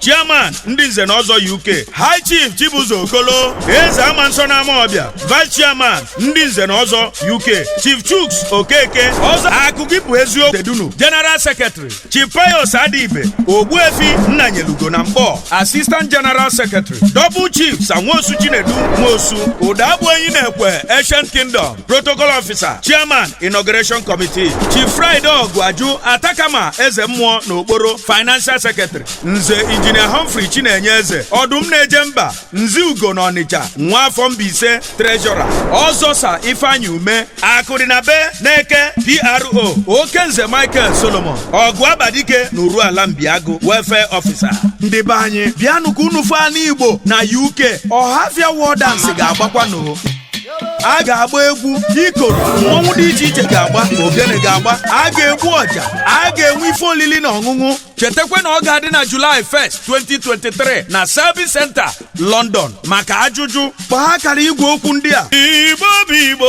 chairman ndị nze na ọzọ uk high chief chibuzo okolo eze ama nsọ na amawbia vice chairman ndị nze na ọzọ uk chief chuks okeke ọzọ akụkọ bụ eze ifitedunu general secretary chief pius adibe ogbuefi nnanyelugo na nkpọ assistant general secretary double chief sir nwosu chinedu nwosu ụdagbu enyi na ekwe ancient kingdom protocol officer chairman inauguration committee chief friday ọgụaju atakama eze mmụọ na okporo financial secretary nze injinia humphrey chinenye eze ọdụm na-eje mba nze ugo na ọnịcha nwa afọ mbaise treasurer ọzọ sir ifeanyi ume akụdị na be na eke pro okenze michael solomon ọgụ abadike na urualla mbiagụ welfare officer ndị be anyị bịanụ ka unu fụọ anị igbo na uk ọhafịa war dance ga-agbakwa n'o a ga-agba egwu ikoro mmọnwụ dị iche iche ga-agba ogene ga-agba a ga-egbu ọja a ga-enwe ife olili na ọṅụṅụ chetakwa na ọ ga-adị na July 1st 2023 na Service Center London maka ajụjụ kpọọ akara igwe okwu ndị a Igbo bụ Igbo